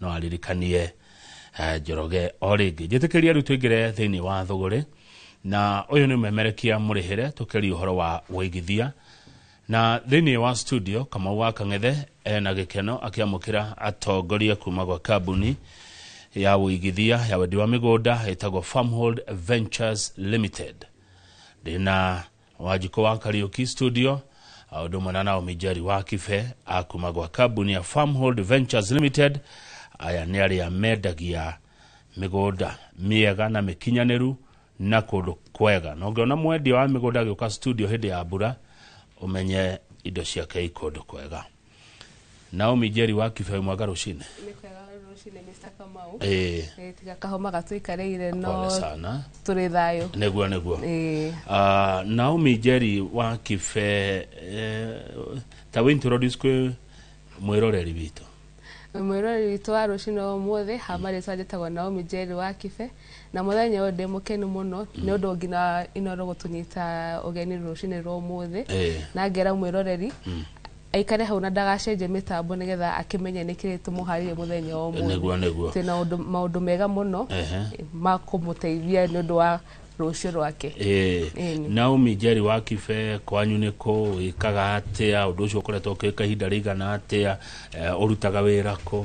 no aririkanie eh, njoroge o rĩngĩ njĩtĩkĩria rĩu tũingĩre thĩinĩ wa thũgũrĩ na ũyũ nĩ ũmemerekia mũrĩhĩre tũkĩria ũhoro wa ũigithia na thĩinĩ wa studio kamau wa kang'ethe ena gĩkeno akĩamũkĩra atongoria kuma gwa kambuni ya ũigithia ya wendi wa mĩgũnda ĩtagwo farmhold ventures limited ndĩna wajiko wa karaoke studio a ũndũ ũmwe na naomi njeri wa kibe a kuma gwa kambuni ya farmhold ventures limited aya nĩ arĩa mendagia mĩgũnda mĩega na mĩkinyanĩru na kũndũ kwega na ũngĩona mwendia wa mĩgũnda agĩũka studio hĩndĩ ya mbura ũmenye indo ciake i kũndũ kwega naomi njeri wa kibe mwega rũcinĩ Nĩ kwega rũcinĩ Mr. Kamau. Eh, Eh, tiga kahoma gatũikarĩire pole no sana tũrĩ thayũ nĩguo nĩguo Eh, Ah, naomi njeri wa kibe eh, ta wĩ introduce kwĩ mwĩroreri witũ mwĩrori witũ wa rũcinĩ wa ũmũthĩ hamarĩtwa njĩtagwo naomi njeri wa kibe Na mũthenya ũyũ ndĩ mũkenu mũno nĩ ũndũ nginya Inoro gũtũnyita ũgeni rũcinĩ rwa ũmũthĩ Eh. na ngera mwĩroreri aikare hau na ndagacenjie mĩtambo nĩgetha akĩmenye nĩkĩ tũmũharĩrie mũthenya wa ũmũthĩ Nĩguo, nĩguo. twĩna ũndũ maũndũ mega mũno Ehe. ma kũmũteithia nĩ ũndũ wa rũciũ rwake Eh, Ĩni. Naomi Njeri wa Kibe kwanyu nĩ kũ wĩkaga atĩa ũndũ ũcio ũkoretwo ũkĩka ihinda rĩigana atĩa eh, ũrutaga wĩra kũ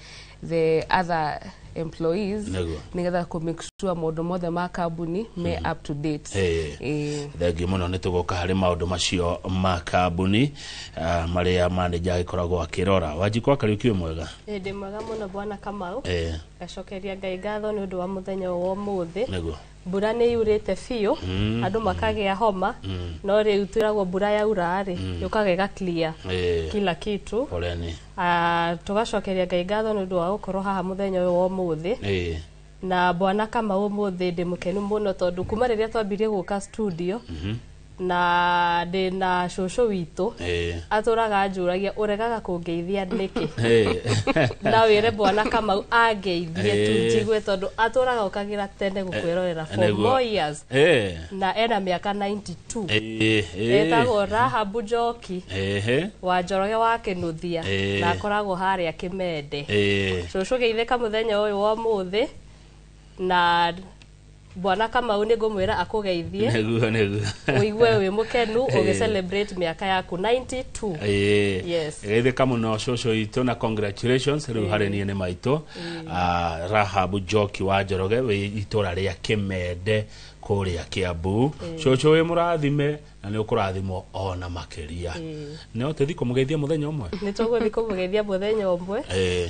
the other employees Nĩguo. nĩgetha kũ make sure maũndũ mothe ma kambuni me up to date Eh. Eh, thengiå må no nä tå goka harä maå ndå macio ma kambuni ah, marä a manenja agä koragwo akä rora wanjikwa karä å kiå mwega hĩndĩ mwega mũno bwana kamau Eh, gacokeria ngai ngatho nĩ ũndũ wa mũthenya wa ũmũthĩ nĩguo mbura nä yå rä te biå Mm. andå makagä a homa Mm. no rä u twä ragwo mbura yaura rä yå kaga ä gaclear Eh, kila kitu pole ni Ah, tũgacokeria ngai ngatho nĩ ũndũ wa gũkorwo haha mũthenya ũyũ wa ũmũthĩ Eh, na bwana kama ũmũthĩ ndĩ mũkenu mũno tondũ kuma rĩrĩa twambirie gũka studio na ndĩ na cũcũ witũ Eh. atũraga anjũragia ũregaga kũngeithia nĩkĩ Eh. na wĩre bwana kamau angeithie tu Eh. njigue tondũ atũraga ũkagira tene gũkwĩrorera for Nĩguo. more years Eh. na ena mĩaka 92 Eh, eh. etagwo rahabu njoki Ehe. wa njoroge wa kĩnuthia Eh. na akoragwo harĩa kĩmende Eh. cũcũ geithĩka mũthenya ũyũ wa ũmũthĩ na Bwana Kamau nĩ ngũmwĩra akũgeithie nĩguo nĩguo ũigue wĩ mũkenu Eh. ũgĩ celebrate mĩaka yaku 92 Ĩĩ. Yes. geithĩka mũno cũcũ itũ na congratulations rĩu harĩ niĩ nĩ maitũ Ah, rahab njoki wa njoroge wĩ itũra rĩa kĩmende kũrĩa kĩambu cũcũ wĩ mũrathime na nĩ ũkũrathimwo ona makĩria no tũthi kũmũgeithia mũthenya ũmwe nĩ tũgũthiĩ kũmũgeithia mũthenya ũmwe Ĩĩ.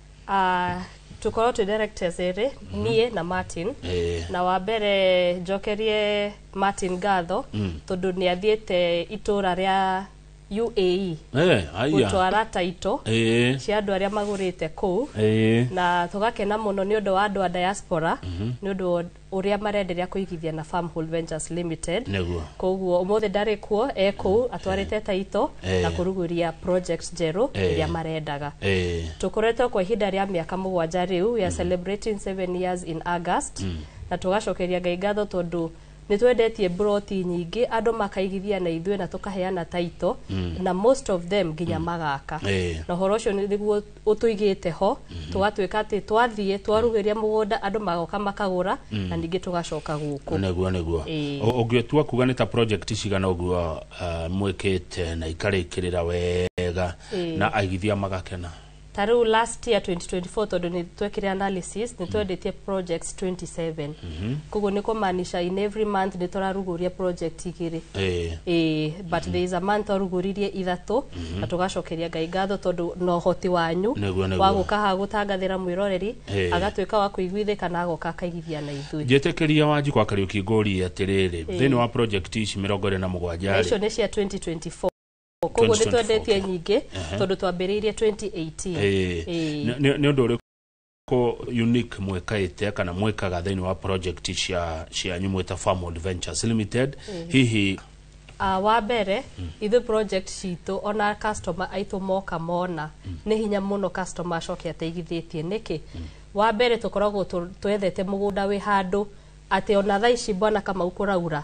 Ah, tũkorwo twĩ directors erĩ niĩ na martin Eh. na wa mbere njokerie martin ngatho tondũ nĩ athiĩte itũra rĩa uae Eh, aya. gũtwara taito Eh, cia andũ arĩa magũrĩte kũu eh. na tũgakena mũno nĩ ũndũ wa andũ a diaspora nĩ ũndũ wa ũrĩa marenderea kũigithia na Farm Hold Ventures Limited Nĩguo. koguo ũmũthĩ ndarĩ kuo e kũu atwarĩte taito Eh. na kũrugũria project njerũ Eh. ĩrĩa marendaga Eh. tũkoretwo kwa ihinda rĩa mĩaka mũgwanja rĩu we are celebrating seven years in august na tũgacokeria ngai ngatho tondũ nĩ twendetie mburoti nyingĩ andũ makaigithia na ithuĩ na tũkaheana taito na most of them nginya magaka Eh. na ũhoro ũcio nĩ- nĩguo ũtũigĩte ho tũgatuĩka atĩ twathiĩ twaruhĩria mũgũnda andũ magoka makagũra na ningĩ tũgacoka gũkũ nĩguo nĩguo Ĩĩ. Ũ- ũngĩtua kuga nĩ ta project cigana ũguo uh, mwĩkĩte na ikarĩkĩrĩra wega Ĩĩ. na aigithia magakena ta rĩu last year 2024 tondũ nĩ twekire analysis nĩ twendetie projects 27 koguo nĩ kũmaanisha in every month nĩ tũrarugũria project igĩrĩ Ĩĩ. Ĩĩ, but there is a man twarugũririe ithatũ na tũgacokeria ngai ngatho tondũ no ũhoti wanyu Nĩguo, nĩguo. wa gũka haha gũtangathĩra mwĩroreri Eh. agatuĩka wa kũiguithĩka na agoka akaigithia na ithuĩ njĩtĩkĩria wanjikũ wa kariũki ngũrie atĩrĩrĩ thĩinĩ wa project ici mĩrongo ĩrĩ na mũgwanja Na icio rĩ nĩ cia 2024 koguo nĩ 2024, twendetie okay. nyingĩ tondũ twambĩrĩirie 2018 Ĩĩ. Ĩĩ. Nĩ- nĩ nĩ ũndũ ũrĩkũ ko unique mwikaite kana mwikaga thiini wa project cia cianyu mwita farm adventures limited hihi Uh, wa mbere ithuĩ project citũ ona customer aitũ moka mona nĩ hinya mũno customer acoke ateithithĩtie nĩkĩ wa mbere tũkoragwo tũ- twethete mũgũnda wĩ handũ atĩ ona thaa ici bwana kamau kũraura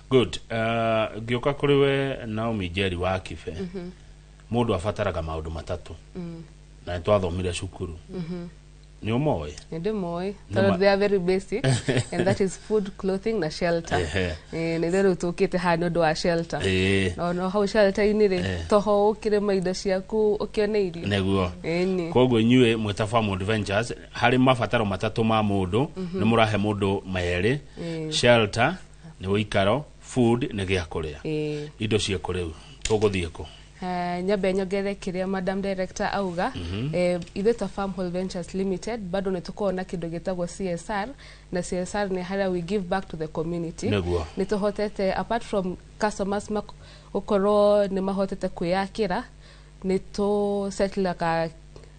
good uh, ngioka kuri we naomi njeri wa kibe mundu abataraga maundu matatu na nĩ twathomire cukuru nĩ ũmoĩ nä ndä moä Nĩ ma- they are very basic and that is food clothing na shelter Ehe. Eh, nä rä rä u tå kä te haha nä å ndå wa shelter Ĩĩ, no no hau shelter-inä rä Eh. toho å kä rä ma indo ciaku å kä one irio nĩguo Ĩni. koguo inyuĩ mwĩta Farm Adventures harĩ mabataro matatũ ma mũndũ nĩ mũrahe mũndũ merĩ shelter nĩ ũikaro food nĩ gĩa kũrĩa Ĩĩ. indo ciĩkũ rĩu tũgũthiĩ kũ Ah, nyambe nyongere kĩrĩa madam director auga eh, ithuĩ ta farm Hall ventures limited bado nĩ tũkoragwo na kĩndũ gĩtagwo csr na csr nĩ harĩa we give back to the community Nĩguo. nĩ tũhotete apart from customers mak- gũkorwo nĩ mahotete kwĩyakĩra nĩ tũ settle ka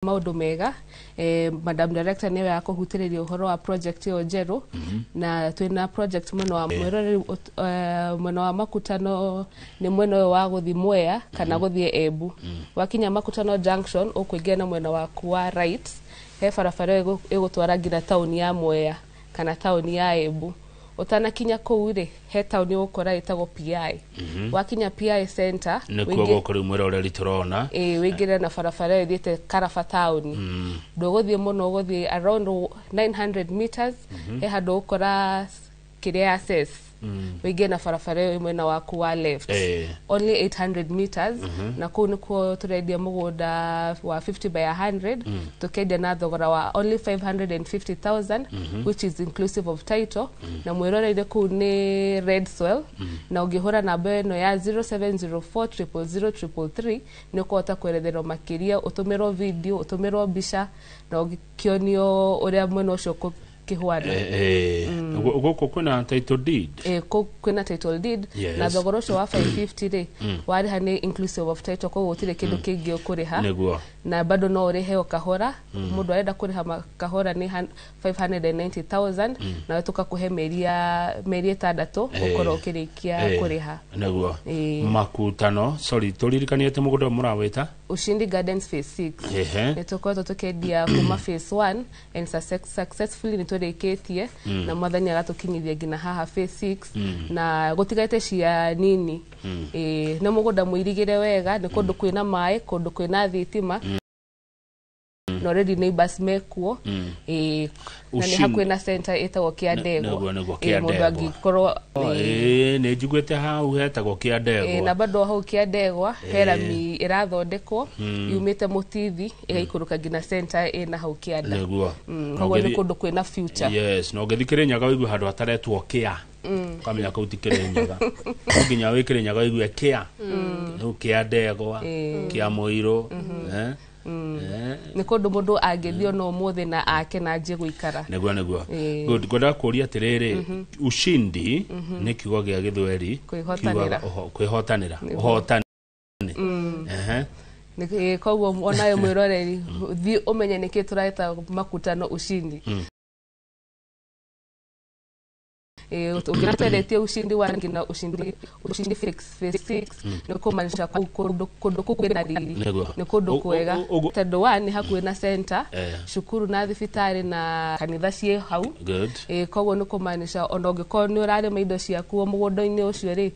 maundu mega eh, madam director niwe akuhutiriria uhoro wa project iyo njeru na twina project mwena wa mwirori ut- eh, mwena wa makutano ni mwena uyu wa guthi mwea kana guthie embu wakinya makutano junction ukuingia na mwena waku wa right he barabara ĩgũ- ĩgũtwara nginya tauni ya mwea kana taũni ya Embu ũtanakinya kũu rĩ he taũni ũgũkora ĩtagwo PI mhm. wakinya PI center nĩkuo gũkũ rĩu mwĩra ũrĩa tũrona ĩĩ wĩingĩre na barabara ĩyo ĩthiĩte Karaba taũni mm. ndũgũthiĩ mũno ũgũthiĩ around 900 meters mhm. he handũ ũgũkora kĩrĩa ya ses mm. wĩingĩe na barabara ĩyo mwena waku wa left Eh. only 800 meters na kũu nĩkuo tũrendia mũgũnda wa 50 by 100 tũkendia na thogora wa only 550000 which is inclusive of title na mwĩroreire kũu nĩ red soil na ũngĩhũra namba ĩno ya 0704000333 nĩ ũkũhota kweretherwo makĩria ũtũmĩrwo video ũtũmĩrwo mbica na ũkĩonio ũrĩa mwena ũcio ũkũ- kĩhwani Eh, eh, gu- gũkũ kwĩna title deed Eh, kũ- kwĩna title deed Yes. na thogora ũcio wa 550 rĩ warĩha nĩ inclusive of title koguo gũtirĩ kĩndũ kĩngĩ ũkũrĩha nĩguo na bado no ũrĩhe o kahora mũndũ arenda kũrĩha ma- kahora nĩ han- 590000 nawe tũkakũhe mĩeri ya mĩeri ĩtandatũ Eh. gũkorwo ũkĩrĩkia Eh, kũrĩha nĩguo Eh. makutano sorry tũririkanie atĩ mũgũnda ũyũ mũrawĩta ushindi gardens phase 6 Ehe. nĩ tũkoretwo tũkĩendia kuma phase 1 and success- successfully nitũrĩkĩtie na mwathani agatũkinyithia nginya haha phase 6 na gũtigarĩte cia nini Ĩĩ, nĩ mũgũnda mũirigĩre wega nĩ kũndũ kwĩna maĩ kũndũ kwĩna thitima na already neighbors mekuo Ĩĩ, na nĩ Ushindi. hakuhĩ na center ĩtagwo kĩa Nĩ- ndegwa nĩguo- nĩguo Ĩĩ, Kĩa mũndũ Ndegwa. angĩkorwo ĩĩ, Ĩĩ, nĩ njiguĩte hau hetagwo kĩa Ĩĩ, na ndegwa bado hau kĩa ndegwa herami ĩrathondekwo yumĩte mũtithi igaikũrũka nginya center ĩna hau kĩanda nĩguo Mm, Na koguo nĩ ũngĩthiĩ- kũndũ kwĩna future yes na ũngĩthiĩ kĩrĩnyaga wĩigue handũ hataretwo kĩa ũkamenya kũu ti kĩrĩnyaga No nginya wĩ kĩrĩnyaga wĩigue kĩa rĩu kĩa ndegwa kĩa mũirũ eh, eh, nĩ kũndũ mũndũ angĩthiĩ ona ũmũthĩ na ake na anjie gũikara nĩguo nĩguo Ĩĩ. Good, ngwendaga kũria atĩrĩrĩ ushindi nĩ kiugo gĩa gĩthweri Kwĩhotanĩra. kiugaga ũho- kwĩhotanĩra ũhotani mm. uh-huh. Eh, koguo onayo mwiroreri mm. thi umenye niki tureta makutano ushindi mm. Eh, ukiona tueletie ushindi wa rangi na ushindi ushindi fix phase six mm. ni kumaanisha ku- kundu kundu kukwĩ na riri Nĩguo. nĩ kundu Ũ- kwega ũ- ũ- tondũ wa nĩ hakuhĩ na center Eh. cukuru na thibitarĩ na kanitha ciĩ hau good Eh, koguo nĩ kumaanisha ona ũngĩkorwo nĩ ũrarĩma indo ciaku mũgũnda-inĩ ũcio rĩ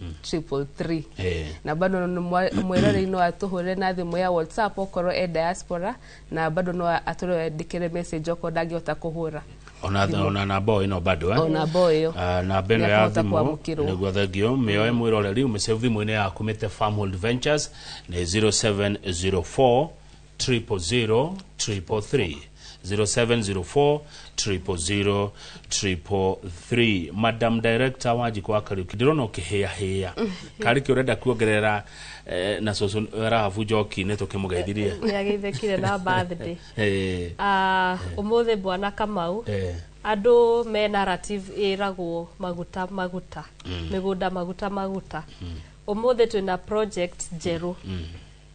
hmm. triple three eh. na bado mwirorei no atuhure na thimu ya whatsapp okorwo e diaspora na bado no atũrendĩkĩre message okorwo ndangĩhota kũhũra ona ona na boy no bado eh ona boy yo ah, na beno ya thimu niguo thengio mioe mwiroreri umisave thimu-inĩ yaku mĩte farm hold ventures nĩ 0704 000 333 0704 000 333 madam director wanjikå wa kariuki ndärona å kä hä ahä karä kä å renda kuongerera eh, na cåcå rahabu njokinä tå kä må gethirie nä ageithekire na birthday Eh, Ah, ũmũthĩ bwana kamau eh, andũ me narrative ĩragwo maguta maguta mĩgũnda maguta maguta ũmũthĩ twĩna project njerũ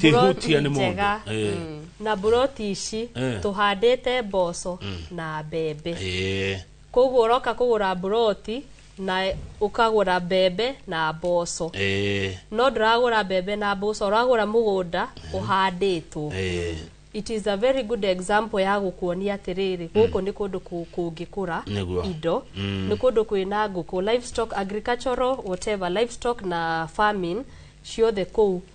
Tihutia nĩ mũndũ. njega Eh. na mburoti ici Eh. tũhandĩte mboco na mbembe Eh. koguo ũroka kũgũra mburoti na ũkagũra mbembe na mboco Eh. no ndũragũra mbembe na mboco ũragũra mũgũnda ũhandĩtwo Eh. it is a very good example ya gũkuonia atĩrĩrĩ gũkũ nĩ kũndũ kũ- kũngĩkũra Nĩguo. indo nĩ kũndũ kwĩna ngũkũ livestock agricultural whatever livestock na farming ciothe kũu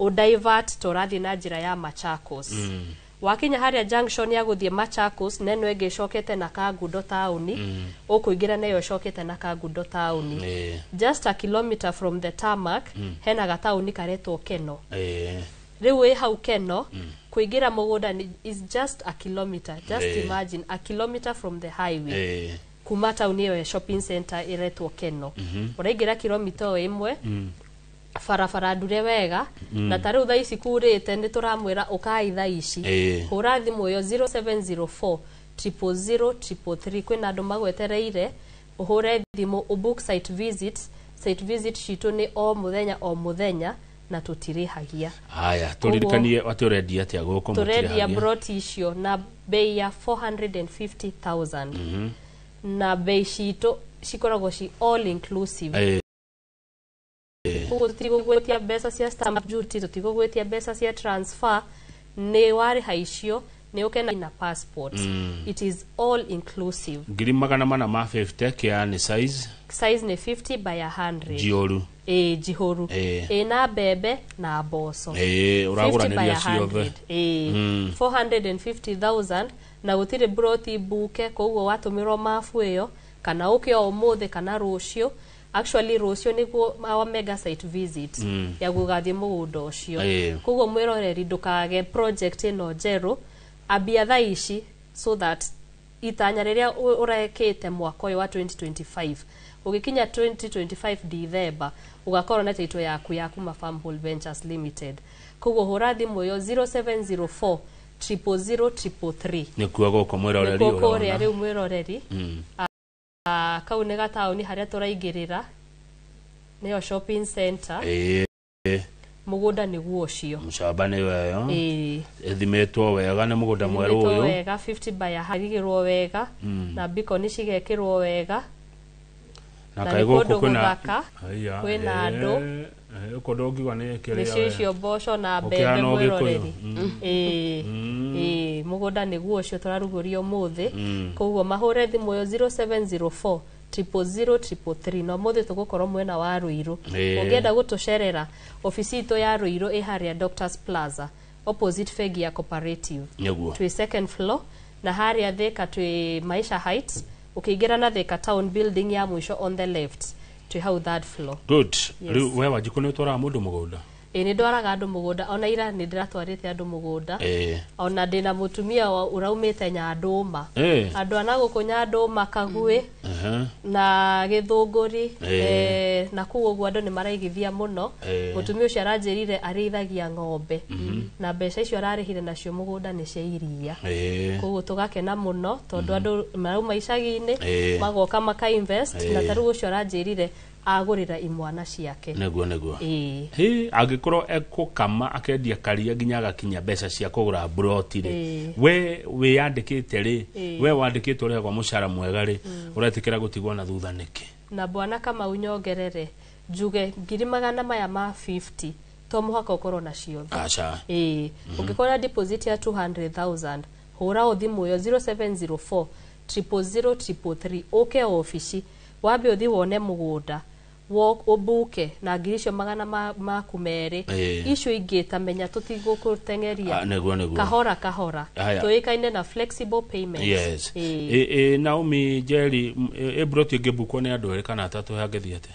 ũ divert to ũrathiĩ na njĩra ya Machakos wakinya harĩa junction ya gũthiĩ Machakos na ĩno ĩngĩ ĩcokete na Kangundo taũni ũkũingĩra na ĩyo ĩcokete na Kangundo taũni Ĩĩ. just a kilometer from the tarmac hena gataũni karetwo Keno Ĩĩ. rĩu wĩ hau Keno kũingĩra mũgũnda ni- is just a kilometer just Ĩĩ. imagine a kilometer from the highway Ĩĩ. kuma taũni ĩyo ya shopping center ĩretwo Keno ũraingĩra kilomita o ĩmwe barabara ndure wega na ta rĩu thaa ici kurĩte nĩ tũramwĩra ũkai thaa ici Ĩĩ. hũra thimũ ĩyo 0704 000 333 kwĩna andũ magwetereire ũhũre thimũ ũbook site visit site visit citũ nĩ o mũthenya o mũthenya na tũtirĩhagia haya tũririkanie atĩ ũrendia atĩa gũkũ tũrendia mũtirĩhagia. broti icio na bei ya 450000 na bei citũ cikoragwo ci all inclusive Eh, Eh. koguo tũtigũgwĩtia mbeca cia stamp duty tũtigũgwĩtia mbeca cia transfer nĩ warĩha icio nĩ ũkena na passport it is all inclusive ngiri magana mana ma 50 kĩa nĩ size size nĩ 50 by 100 njioru ĩĩ njihũru Eh. ĩĩ na mbembe na mboco Eh, 50 by ũragũranĩria 100. ciothe Ĩĩ. 450,000 na gũtirĩ mburoti mbuke koguo watũmĩrwo mabu ĩyo kana ũke o ũmũthĩ kana rũciũ actually rũciũ nĩguo our mega site visit Mm. ya gũgathiĩ mũgũnda ũcio Ĩĩ. koguo mwĩroreri ndũkage project ĩno njerũ ambia thaa ici so that itanya rĩrĩa ũ- ũrekĩte mwaka ũyũ wa 2025 ũgĩkinya 2025 December ũgakorwo na taitũ yaku ya kuma Farm Hall Ventures Limited koguo hũra thimũ ĩyo 0704 000 333 nĩkuo gũkũ mwĩroreri nĩkuo kũrĩa ũrona rĩu mwĩroreri Mm. Ah, kau nä gataåni harä a tå raingä rä ra nä yo shopping center ĩĩ må gå nda nä guo å cio mshaba nĩ weyo Ĩĩ. ĩthimĩtwo wega nĩ mũgũnda mwerũ Ithimĩtwo ũyũ wega 50 by harigĩrwo wega na bikoni cigekĩrwo wega na na kaĩ nĩ gũkũ kũndũ kwĩna gũthaka, Aya, kwĩna andũ. eh. Eh, uko ndongiuga ni kiria nĩcio icio mboco na Ũkĩhana mbembe Ũgĩkũyũ. mwĩroreri Mm. Ĩĩ, Mm. ĩĩ, mũgũnda nĩguo ũcio tũrarugũria ũmũthĩ Mm. koguo mahũre thimũ yo 0704 000 333 na ũmũthĩ tũgũkorwo mwena wa rũirũ Ĩĩ. ũngĩenda gũtũcerera obici itũ ya rũirũ ĩ harĩa doctors plaza opposite bengi ya cooperative niguo twĩ second floor na harĩa thika twĩ maisha heights ũkĩingĩra na thika town building ya mũico on the left twĩ hau third floor good Yes. rĩu we wanjikũ nĩ ũtwaraga mũndũ mũgũnda ĩ nĩ ndwaraga andũ mũgũnda ona ira nĩ ndĩratwarĩte andũ mũgũnda Eh. ona ndĩ na mũtumia wa- ũraumĩte nyandũma Eh. andũ ana gũkũ nyandũma kaguĩ Aha. na gĩthũngũri Eh. eh, na kuu ũguo andũ nĩ maraigithia mũno Eh. mũtumia ũcio aranjĩrire arĩithagia ng'ombe na mbeca icio ararĩhire nacio mũgũnda nĩ cia iria Eh. koguo tũgakena mũno tondũ andũ marauma icagi-inĩ Eh. magoka maka invest na Eh. tarĩu ũcio aranjĩrire agũrĩra imwana ciake nĩguo nĩguo Ĩĩ. Hĩ, angĩkorwo ekũkama akendia karia nginya agakinya mbeca cia kũgũra buroti rĩ Ĩĩ. we wĩyandĩkĩte rĩ Ĩĩ. we wandĩkĩtwo ũrĩhagwo mũcara mwega rĩ ũretĩkĩra gũtigwo na thutha nĩkĩ Na bwana kamau nyongerere njuge ngiri magana maya ma 50 to mũhaka ũkorwo na ciothe aca ĩĩ ũngĩkorwo na deposit ya 200,000 hũra o thimũ ĩyo 0704 000 333 ũke o obici wambe ũthi wone mũgũnda wo- ũbuke na ngiri icio magana ma- maku merĩ Ĩĩ. icio ingĩ ta menya tũtigũkũteng'eria Ah, nĩguo, nĩguo. kahora kahora Haya. tũĩkaine na flexible payments Yes. ä ä naomi njeri m- ä- ĩbro ti ngĩbukwo nĩ andũ erĩ kana atatũ hangĩthiĩ atĩa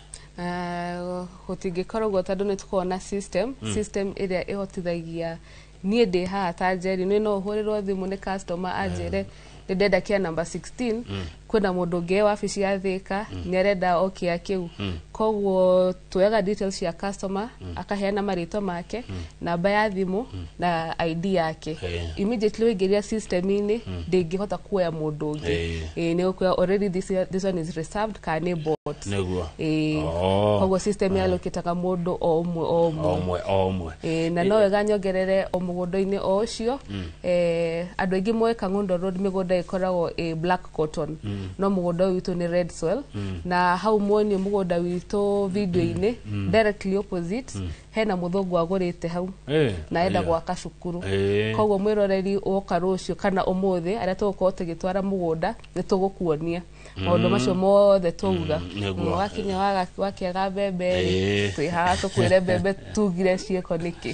gũtingĩkorwo guo tondũ nĩ tũkoragwo na system system ĩrĩa ĩhotithagia niĩ ndĩ haha ta njeri nĩ no hũrĩrwo thimũ nĩ customer anjĩre nĩ ndenda kĩa namba 16 kwĩna mũndũ ũngĩ e wabici ya thĩka nĩ arenda o kĩa kĩu koguo tuoyaga details cia customer mm. akaheana marĩtwa make mm. namba ya thimũ mm. na ID yake hey. immediately waingĩria system-inĩ mm. ndĩngĩhota kuoya mũndũ ũngĩ hey. e, nĩ ũkuoya already this, this one is reserved kana nĩ bot nĩguo e, oh. koguo system ya lokitaga mũndũ o ũmwe o ũmwe o ũmwe e, na no wega nyongerere o mũgũnda-inĩ o ũcio mm. e, andũ aingĩ moĩ Kang'ondo Road mĩgũnda ĩkoragwo e, black cotton no mũgũnda ũyũ witũ nĩ red soil na hau muonio mũgũnda witũ video-inĩ directly opposite hena mũthũngũ agũrĩte hau Eh, na enda aya. gwaka cukuru Eh. koguo mwĩroreri woka rũciũ kana ũmũthĩ arĩa tũgũkorwo tũgĩtwara mũgũnda nĩ tũgũkuonia maũndũ macio mothe twauga nĩguo. wakinya waga- wakĩaga mbembe Eh. twĩ haha tũkwĩre mbembe tugire ciĩko nĩkĩ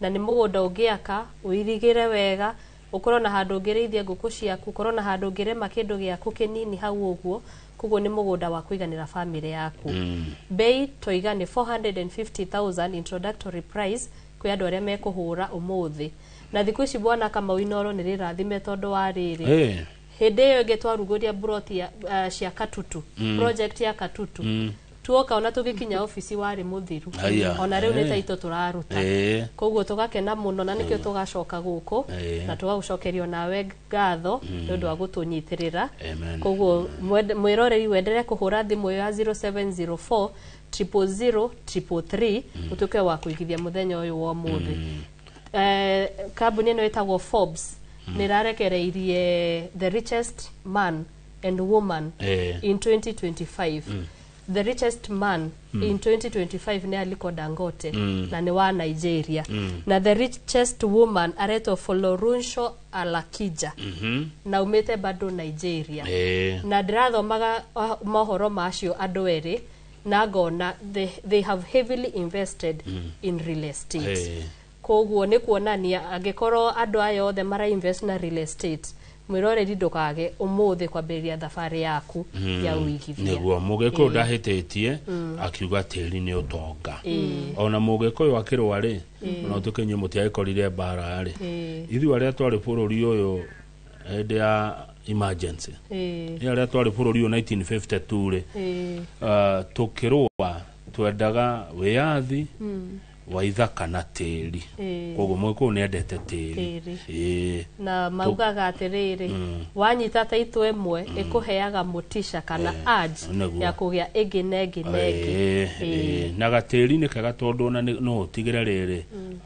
na nĩ mũgũnda ũngĩaka, ũirigĩre wega, ũkorwo na handũ ũngĩrĩithia ngũkũ ciaku, ũkorwo na handũ ũngĩrĩma kĩndũ gĩaku kĩnini hau ũguo, koguo nĩ mũgũnda wa kũiganĩra family yaku. Mbei twaiga nĩ 450,000 introductory price kwĩ andũ arĩa mekũhũra ũmũthĩ. Na thikũ ici bwana Kamau Inoro nĩ rĩrathime tondũ wa rĩrĩ, Hey. hĩndĩ ĩyo ĩngĩ twarugũria mburoti ya- ah, cia katutu Mm. project ya katutu Mm. tuoka ona tũgĩkinya ofici warĩ mũthiru Haya, ona rĩu nĩ eh. taito tũraruta Eh. koguo tũgakena mũno na nĩkĩo tũgacoka gũkũ Eh. na tũgagũcokerio nawe ngatho Mm. nĩ ũndũ wa gũtũnyitĩrĩra Amen. koguo mwende- mwĩroreri wenderee kũhũra thimũ ĩyo ya 0704 000 333 ũtuĩke wa kũigithia mũthenya ũyũ wa ũmũthĩ Eh, kambuni ĩno ĩtagwo forbes nĩ ĩrarekereirie the richest man and woman Eh. in 2025 the richest man in 2025 nĩ aliko dangote na nĩ wa nigeria na the richest woman aretwo folorunsho alakija Mhm. na umĩte bado nigeria Eh. na ndirathomaga ah, mohoro macio andũ erĩ na ngona they, they have heavily invested mm. in real estate Eh. koguo nä kuonania angä korwo andå aya othe mara invest na real estate mwä roreri ndå kage å må thä kwambä rä ria thabarä yaku ya å igithia niguo mugikuyu ndahititie akiuga tiri ni utonga ona mugikuyu akirwa ri ona tukinyu mutiagikorire mbara ri Ĩĩ. ithu aria twari bururi uyu hĩndĩ ya emergency ĩĩ nĩ arĩa twarĩ bũrũri ũyũ 1952 rĩ ĩĩ uh, tũkĩrũa twendaga wĩyathi mm, wa ithaka na tĩri ĩĩ koguo mũgĩkũyũ nĩ endete tĩri Tĩri. Ĩĩ. na maugaga atĩrĩrĩ Mm. wanyita taitũ ĩmwe ĩkũheaga mũticha kana Eh, urge nĩguo. ya kũgĩa ĩngĩ na ĩngĩ na ĩngĩ Ĩĩ, Ĩĩ. ĩĩ. na gatĩri nĩ kega tondũ ona nĩ- no ũtigĩre rĩrĩ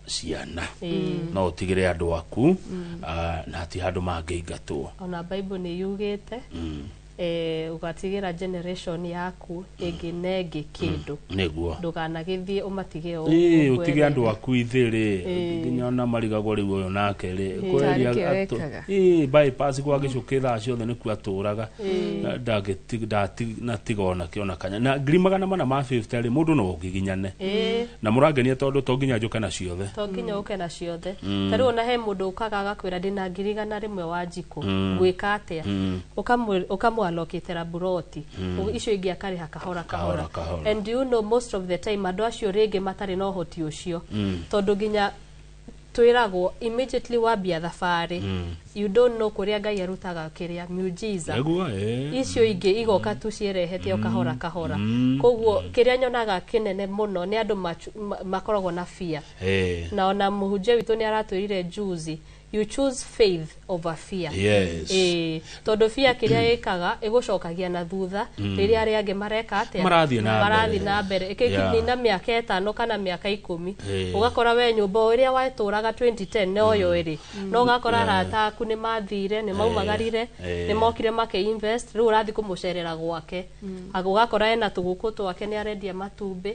ciana Ĩĩ. no ũtigĩre andũ aku ah, na hati handũ mangĩingatwo ona bible nĩ yugĩte Mm, eh, ũgatigĩra generation yaku ĩngĩ na ĩngĩ kĩndũ nĩguo ndũkanagĩthiĩ ũmatige o Ĩĩ, ũguo ũtige andũ kwerere. aku ithĩrĩ Ĩĩ. nginya ona marigagwo rĩu ũyũ nake rĩ Ĩĩ. kweria Tarĩki atũ- wekaga. ĩ bypass gwa gĩcũkĩ thaa ciothe nĩkuo atũraga Na ndagĩti- ndati- na tiga ona kĩ- ona kanya na ngiri magana mana ma 50 rĩ mũndũ no ũgiginyane ĩĩ na mũrangenia tondũ to nginya njũke na ciothe to nginya ũke na ciothe ta rĩu ona he mũndũ ũkaga agakwĩra ndĩna ngiri igana rĩmwe wa njikũ ngwĩka atĩa Ũkamwĩ- ũkamwalokĩtĩra mburoti Ũguo icio ingĩ akarĩha kahora Kahora, kahora kahora. and you know most of the time andũ acio rĩngĩ matarĩ na ũhoti ũcio tondũ nginya twĩragwo immediately wambia thabarĩ mm. you don't know kũrĩa ngai arutaga kĩrĩa mujiza eh. icio ingĩ igoka tu ciĩrehete o kahora mm. kahora mm. koguo kĩrĩa nyonaga kĩnene mũno nĩ andũ makoragwo na fear eh. na ona mũhunjia witũ nĩ aratwĩrire juzi you choose faith over fear Yes. Eh, tondå bia kä rä a ĩkaga ĩgũcokagia na thutha rĩrĩa arĩa angĩ mareka atĩa Marathiĩ na marathiĩ mbere. na mbere Yeah. ĩkĩkinya na mä aka ĩtano kana mä aka ikũmi Eh. ũgakora we nyå mba ä rä a watåraga 2010 noyo ä rä no ũgakora Yeah. arata aku nĩ mathire nĩ maumagarire Eh. nĩ mokire makä rä u å rathiĩ kå må cerera gwake Aga- ũgakora ena tå gå kå twake nä arendia matumbä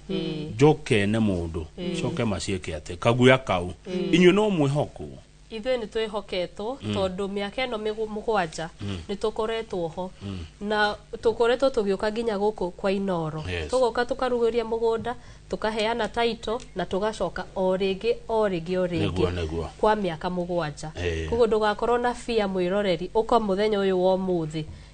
njoke ne mũndũ coke maciĩke atĩ kaguya kau inyuĩ no mwĩhokwo ithuĩ nĩ twĩhoketwo tondũ mĩaka ĩno mĩgũ- mũgwanja nĩ tũkoretwo ho na tũkoretwo tũgĩũka nginya gũkũ kwa inoro Yes. tũgoka tũkarugũria mũgũnda tũkaheana taito na tũgacoka o rĩngĩ o rĩngĩ o Nĩguo, rĩngĩ nĩguo. kwa mĩaka mũgwanja Eh. koguo ndũgakorwo na bia mwĩroreri ũka mũthenya ũyũ wa ũmũthĩ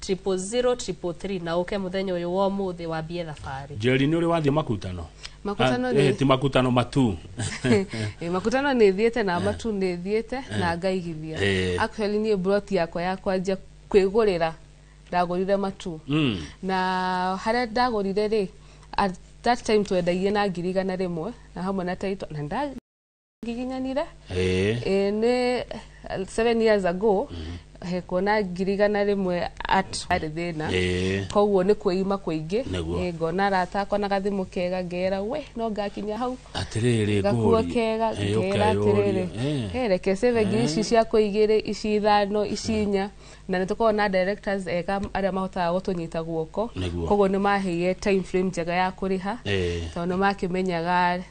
triple zero triple three na ũke mũthenya ũyũ wa ũmũthĩ wambie thabarĩ njeri nä å rä wathiä makutano Makutano Ah, nĩ- eh, ti makutano matu Eh, makutano nä thiäte na matu nä thiäte na ngaigithia Eh. actually niä broti yakwa ya kwanjia kwä gå rä ra ndagå rire matu Mm. na harä a ndagå rire rä at that time twendagie na ngiri igana rä mwe na hamwe na taito na nda- ngiginyanire Eh. eh, nĩ eh, seven years ago he kuona ngiri igana rĩmwe at arĩ thĩna Eh. koguo nĩ kwĩima kũingĩ Nĩguo. Eh, ngona arata akwa na gathimũ kega ngera we no ngakinya hau atĩrĩrĩ gakuo ngũũrie. kega Eh, ngera ũkayũria. atĩrĩrĩ Eh. he reke sebe ngiri ici ciakwa igĩrĩ ici ithano ici inya na nĩ tũkoragwo na directors ega arĩa mahotaga gũtũnyita guoko Nĩguo. koguo nĩ maheire time frame njega ya kũrĩha Eh. tondũ nĩ makĩmenyaga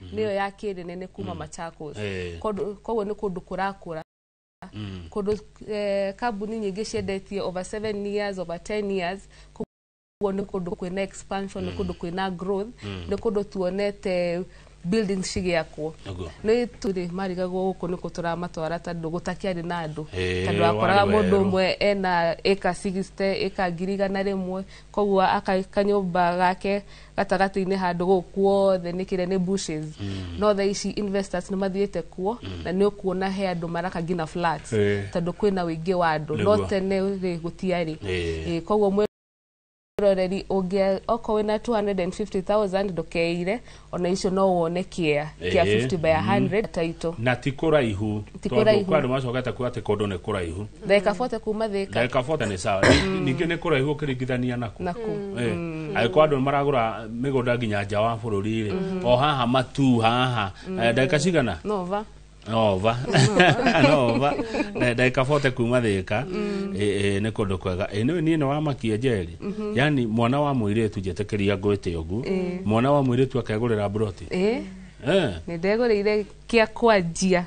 mhm. nĩyo ya kĩnene nĩ kuma mm. Machakos eh. koguo nĩ kũndũ kũrakũra mm. kũndũ eh, kambuni nyingĩ ciendetie over 7 years over 10 years koguo nĩ kũndũ kwĩna expansion nĩ mm. kũndũ kwĩna growth nĩ kũndũ tuonete building cigĩakwo nä tå rä marigagwo gå kå nä kå tå ramatwara tondå gå takiarä na andå tondå akoraga må ndå mwe ena ä ka ngiri igana rä mwe koguo akanyå mba gake gatagatĩ-inĩ handũ gũkũ kuothe nĩ kĩrĩa nĩ bushes mm. no tha ici investors nĩ mathiĩte kuo mm. na nĩ ũkuona he andũ maraka ngina flats Eh. tondũ kwĩna ũingĩ wa andũ no Nĩguo. tene rĩ gũtiarĩ Eh. Eh, koguo mwĩ roreri ũngĩa okorwo wĩna 250000 ndũkeire ona icio no wone kĩa kĩa Eh. 50 by 100 taitũ na ti kũraihu Ti tondũ kũraihu. kwa andũ macokete kuga atĩ kũndũ nĩ kũraihu ndagĩka 40 kuma thĩka ndagĩka 40 nĩ sawa Ni- ningĩ nĩ kũraihu ũkĩringithania naku na kũ Eh, angĩkorwo andũ maragũra mĩgũnda nginya nja wa bũrũri rĩ o haha matu haha Eh, ndagĩka cigana no va nova nova Na ndagĩka 40 kuma thĩka Eh, eh, nĩ kũndũ kwega Eh, nĩ niĩ nĩ wamakia njeri yani mwana wa mũirĩtu njĩtĩkĩria ngwĩte ũgu mwana wa mũirĩtu akegũrĩra mburoti ĩ Eh. nĩ ndegũrĩire kĩa kwanjia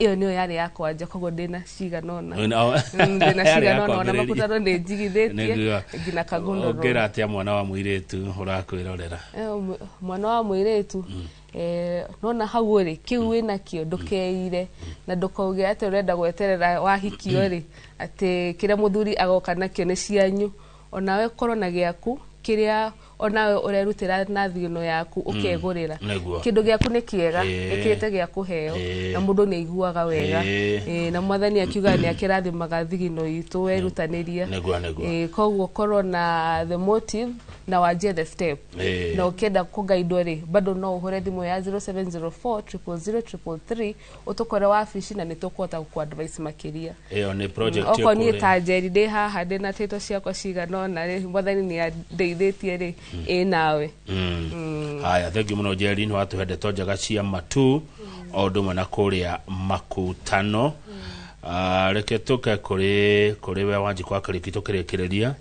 ĩyo nĩyo yarĩ ya kwanja koguo ndĩna cigana ũna Wĩna- o- Mm, ndĩna yarĩ ya cigana ũna ona kwambĩrĩria. makutano nĩ njigithĩtie Nĩguo. nginya kagundũrwo ongera atia mwana wa mũirĩtu ũrakwĩrorera Eh, mw- mwana wa mwĩrĩtu eh, nona hau rĩ kĩu wĩ nakĩo ndũkeire na ndũkauge atĩ ũrenda gweterera wahikio rĩ atĩ kĩrĩa mũthuri agoka nakĩo nĩ cianyu onawe korwo na gĩaku kĩrĩa onawe ũrerutĩra na thigino yaku mm. ũkegũrĩra kĩndũ gĩaku nĩ kĩega ĩkĩte gĩa kũheo na mũndũ nĩ aiguaga wega na mwathani akiuga nĩ akĩrathimaga thigino itũ werutanĩrie koguo korwo na the motive na wanjie the step na ũkĩenda kũgaidwo rĩ bado no ũhũre thimũ ya 0704 000 333 ũtũkore wabici na nĩ tũkũhota gũkũ advice makĩria ĩyo nĩ project okorwo niĩ ĩkũrĩ. ta njeri ndĩ haha ndĩ na tĩto ciakwa cigana ũna rĩ mwathani nĩ andeithĩtie rĩ ĩ nawe Mm. haya thengiũ mũno njeri nĩ watũhe ndeto njega cia matu o ũndũ ũmwe na kũrĩa makutano Ah, reke tũke kũrĩ kũrĩ we wanjikwa karĩki tũkĩrĩkĩrĩria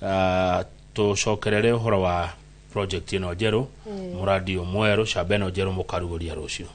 Ah, tũcokerere ũhoro wa project ĩno njerũ mũrandi ũyũ mwerũ camba ĩno njerũ mũkarugũria rũciũ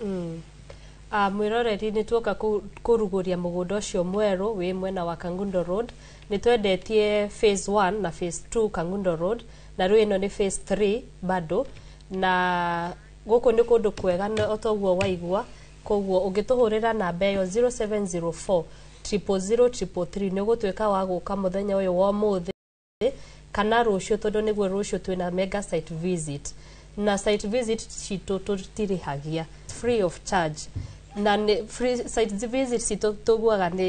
Ah, mwĩroreri nĩ tuoka kũ- kũrugũria mũgũnda ũcio mwerũ wĩ mwena wa kangundo road nĩ twendetie phase 1 na phase 2 kangundo road na rĩu ĩno nĩ phase 3 bado na gũkũ nĩ kũndũ kwega na o toguo waigua koguo ũngĩtũhũrĩra namba ĩyo 0704 000 nĩ ũgũtuĩka wa gũka mũthenya ũyũ wa ũmũthĩ ũmũthĩ kana rũciũ tondũ nĩguo rũciũ twĩna mega site visit na site visit citũ tũtirĩhagia free of charge na nĩ free site visit citũ tũguaga nĩ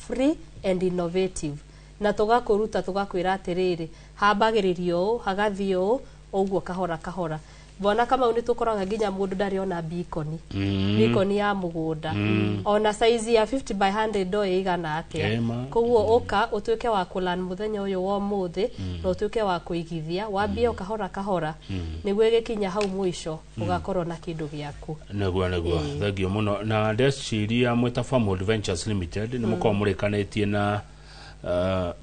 free and innovative na tũgakũruta tũgakwĩra atĩrĩrĩ hambagĩrĩrio ũũ hagathiĩ ũũ ũguo kahora kahora Bwana Kamau nĩ tũkoraga nginya mũndũ ndarĩ ona bikoni Mm. bikoni ya mũgũnda Mm. ona saizi ya 50 by 100 ndo ĩigana atĩa Kema. koguo ũka ũtuĩke wa kũlan mũthenya ũyũ wa ũmũthĩ na ũtuĩke wa kũigithia wambie o kahora kahora nĩguo ĩgĩkinya hau mũico ũgakorwo na kĩndũ gĩaku nĩguo nĩguo thengio mũno na ndeciria mwĩta family ventures limited nĩ mũkorwo mũrĩkanĩtie na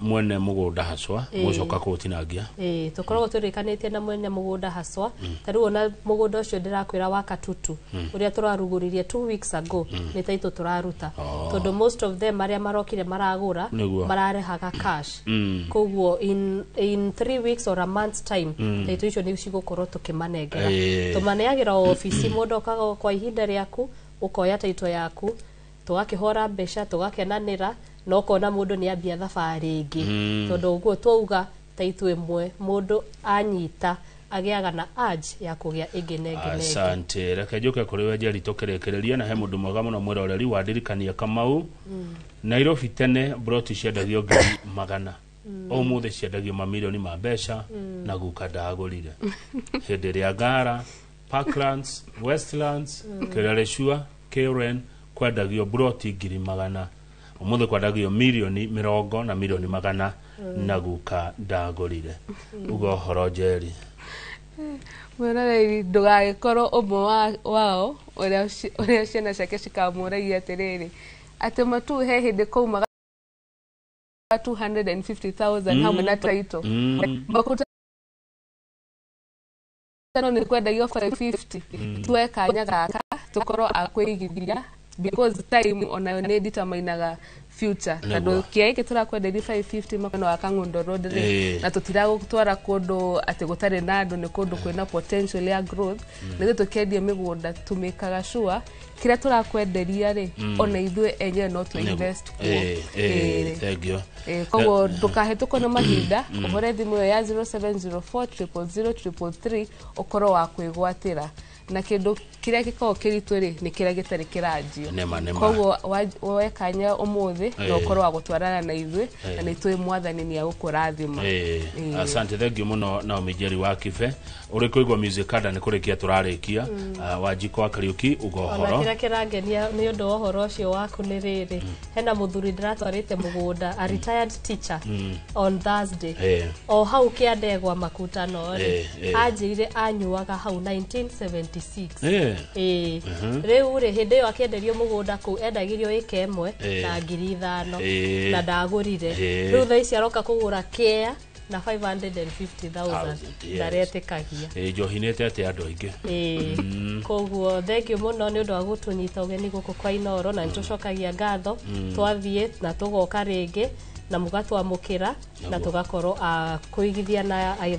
mwene mugunda hacwa Ĩĩ. mucoka kutinangia ĩĩ tũkoragwo tũrĩkanĩtie na mwene mũgũnda haswa ta rĩu ona mũgũnda ũcio ndĩrakwĩra wa katutu ũrĩa tũrarugũririe two weeks ago nĩ taitũ tũraruta Oh. tondũ most of them arĩa marokire maragũra Nĩguo. mararehaga cash Mm. koguo in, in three weeks or a month's time taitũ icio nĩ cigũkorwo tũkĩmanengera Ĩĩ. tũmaneagĩra o obici mũndũ okaga o kwa ihinda rĩaku ũkoya taitũ yaku tũgakĩhora mbeca tũgakenanĩra na ũkona mũndũ nĩ ambia thabarĩ ĩngĩ mm. tondũ ũguo twauga ta ithuĩ mwe mũndũ anyita agĩaga na aj ya kũgĩa ĩngĩ na ĩngĩ asante reke njoke kũrĩ we njeri tũkĩrĩkĩrĩria na he mũndũ mwega mũno mwĩroreri wandirikania kamau mm. nairobi tene broti ciendagio ngiri magana mm. ũmũthĩ ciendagio mamirioni ma mbeca mm. na guka ndagũrire hĩndĩ ĩrĩa ngara Parklands, Westlands, Kĩrereshua, Karen kwendagio buroti ngiri magana ũmũthĩ kwendagio milioni mĩrongo na milioni magana na guka ndagũrire uga ũhoro njeri mwĩroreri ndũgagĩkorwo ũmwe wa- wao ũrĩa ci- ũrĩa ciana ciake cikamũragia atĩrĩrĩ atĩ matu he hĩndĩ kũu maga 250,000 hamwe na taito Mm. makuta ĩno nĩ kwendagio 550 tuoe kanya gaka tũkorwo a kwĩigithia because time onayo nĩ determinaga future Nĩguo. tondũ kĩa gĩkĩ tũrakwenderia 550 makano wa kang'undo road rĩ Eh. na tũtiragũtwara kũndũ atĩ gũtarĩ na andũ nĩ kũndũ kwĩna potential ya growth nĩ ithuĩ tũkĩendia mĩgũnda tũmĩkaga sure kĩrĩa tũrakwenderia rĩ ona ithuĩ enyewe no tũ invest kuo Eh, Eh, eh, thengiũ Eh, koguo ndũkahĩtũkwo nĩ mahinda ũhũre thimũ ĩyo ya 0704000333 ũkorwo wa kwĩgwatĩra na kĩndũ kĩrĩa gĩkoragwo kĩritũ rĩ nĩ kĩrĩa gĩtarĩ kĩranjio Nĩma, nĩma. koguo wa- wekanya ũmũthĩ na Eh. ũkorwo wa gũtwarana na ithuĩ na nĩ tũĩ mwathani nĩ agũkũrathima Eh, Eh. asante thengiũ mũno naomi njeri wa kibe Ũrĩ kũigua music kada nĩ kũrĩkia tũrarĩkia Ah, wanjiko wa kariuki uga ona ũhoro kĩrĩa kĩrangenia nĩ ũndũ wa ũhoro ũcio waku nĩ rĩrĩ hena mũthuri ndĩratwarĩte mũgũnda a retired teacher on thursday Eh. o hau kĩa ndegwa makutano Eh, rĩ eh. anjĩire anyuaga hau 1976 Eh, Ĩĩ. rĩu rĩ hĩndĩ ĩyo akĩenderio mũgũnda kũu endagĩrio ĩka ĩmwe Eh. na ngiri ithano Eh. na ndagũrire Eh. rĩu thaa ici aroka kũgũra kea na 550000 yes. ndaretĩkagia Eh, njohi nä te atä andå aingä Ĩĩ. koguo thengiũ mũno nĩ ũndũ wa gũtũnyita ũgeni gũkũ kwa inoro na nĩtũcokagia ngatho twathiĩ na tũgoka rĩngĩ na mũgatwamũkĩra na Naguo. tũgakorwo a kũigithia na aithe